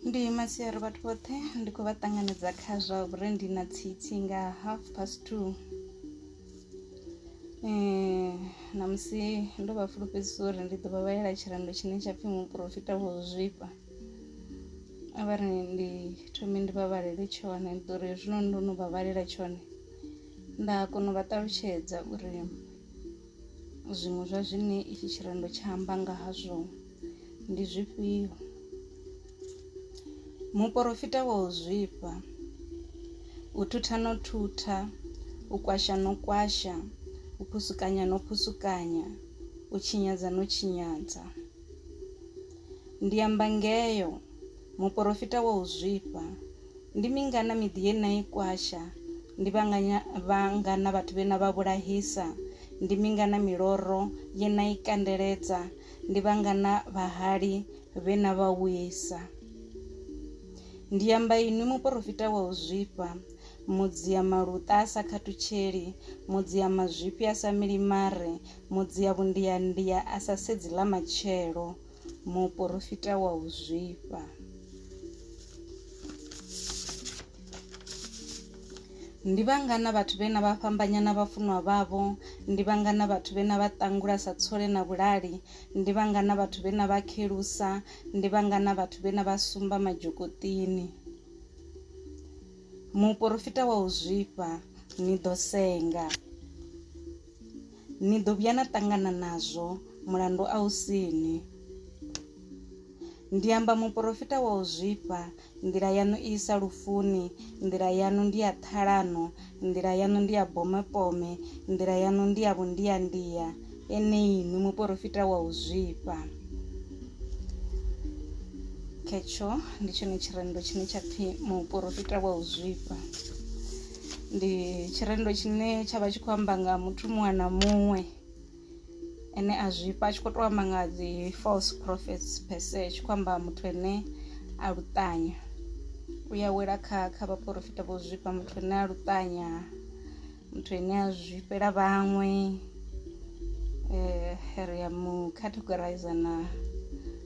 ndi masiari vhathu vhoṱhe ndi khou vha ṱanganedza kha zwa uri ndi na tsitsi nga half past two um na musi ndo vha fulufhedzisa uri ndi ḓo vha vhalela tshirendo tshine tsha pfhi muporofita vho zwifha a vha ri ndi thome ndi vha vhalele tshone ndi ḓo ri hezwino ndo no vha vhalela tshone nda kona u vha ṱalutshedza uri Zwiṅwe zwa zwine itshi tshirendo tsha amba nga hazwo ndi zwifhio? Muporofita wa u zwifha, u thutha no thutha, u kwasha no kwasha, u phusukanya no phusukanya, u tshinyadza no tshinyadza. Ndi amba ngeo, muporofita wa u zwifha. Ndi mingana miḓi ye na i kwasha? Ndi vhanganya vhangana vhathu vhe na vha vhulahisa? Ndi mingana miloro ye na i kandeledza? Ndi vhangana vhahali vhe na vha wisa? Ndi amba inwi muporofita wa u zwifha, mudzia maluṱa a sa khathutsheli, mudzia mazwifhi a sa mili mare, mudzia vhundiandia a sa sedzi ḽa matshelo. muporofita wa u zwifha ndi vhangana vhathu vhe na vha fhambanya na vhafunwa vhavho ndi vhangana vhathu vhe na vha ṱangula sa tsole na vhulali ndi vhangana vhathu vhe na vha khelusa ndi vhangana vhathu vhe na vha sumba madzhokotini muporofita wa u zwifha ni ḓo senga ni ḓo vhuya na ṱangana nazwo mulandu a u sini ndi amba muporofita wa u zwifha nḓila yaṋu i isa lufuni nḓila yaṋu ndi ya ṱhalano nḓila yaṋu ndi ya bomepome nḓila yaṋu ndi ya vhundiyandiya eneyi ni muporofita wa u zwifha khetsho ndi tshone tshirendo tshine tsha pfhi muporofita wa u zwifha ndi tshirendo tshine tsha vha tshi khou amba nga muthu muṅwe na muṅwe ane a zwifha a tshi khou tou amba nga dzi false prophets per se tshi khou amba muthu ane a luṱanya u ya wela kha kha vhaporofita vho zwifha muthu ane a luṱanya muthu ane a zwifhela vhaṅwe Eh, ri ya mu categorize na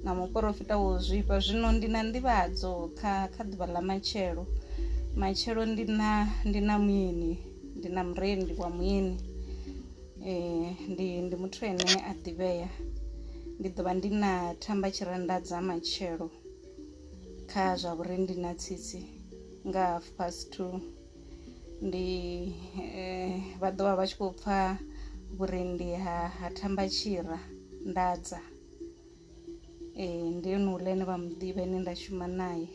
na muporofita wo zwifha zwino ndi na nḓivhadzo kha kha ḓuvha ḽa matshelo matshelo ndi na ndi na muyeni ndi na murendi wa muyeni eh, ndi ndi muthu ene a ḓivhea ndi ḓovha ndi na thamba tshirenda dza matshelo kha zwa vhurendi na tsitsi nga half past two ndi vha ḓovha vha tshi kho pfha vhurendi ha ha thamba tshira ndadza ee ndi ene uḽa ane vha muḓivha ane nda shuma naye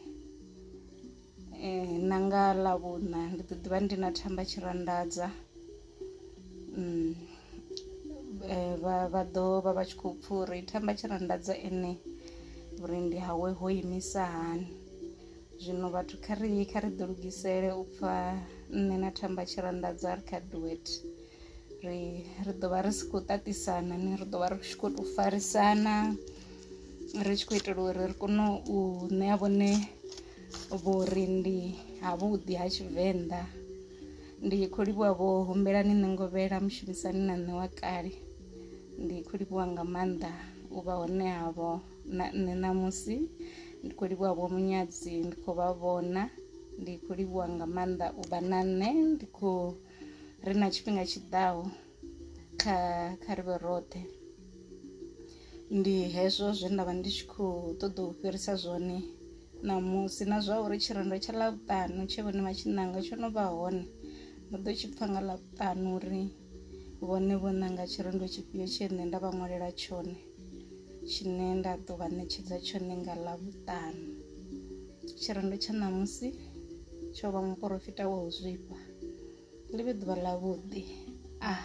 ee na nga ḽavhuṋa ndi ḓo ḓivha ndi na thamba tshira ndadza vha vha ḓo vha vha tshi kho pfha uri thamba tshira ndadza ene vhurendi hawe ho imisa hani Zwino vhathu kha ri kha ri ḓi lugisele u pfa nṋe na Thamba tshi ri anḓadza ri kha duet ri ri ḓo vha ri si khou ṱaṱisana ni ri ḓo vha ri tshi khou tou farisana ri tshi khou itela uri ri kone u ṋea vhone vhori ndi havhuḓi ha tshivenḓa ndi khou livhuwa vho humbela ni nṋe ngovhela mushumisani na nṋe wa kale ndi khou livhuwa nga maanḓa u vha hone havho na nṋe ṋamusi ndi khou livhuwa vho munyadzi ndi khou vha vhona ndi khou livhuwa nga maanḓa u vha na nṋe ndi khou ri na tshifhinga tshiḓaho kha kha ri vhe roṱhe ndi hezwo zwe nda vha ndi tshi khou ṱoḓa u fhirisa zwone ṋamusi na zwa uri tshirendo tsha ḽavhuṱanu tshe vhone vha tshi ṋanga tsho no vha hone ndo ḓo tshi pfha nga ḽavhuṱanu uri vhone vho ṋanga tshirendo tshifhio tshee nṋe nda vha ṅwalela tshone tshine nda ḓo vha ṋetshedza tshone nga ḽavhuṱanu tshirendo tsha ṋamusi tsho vha muporofita wa u zwifha ḽi vhe ḓuvha ḽavhuḓi a ah.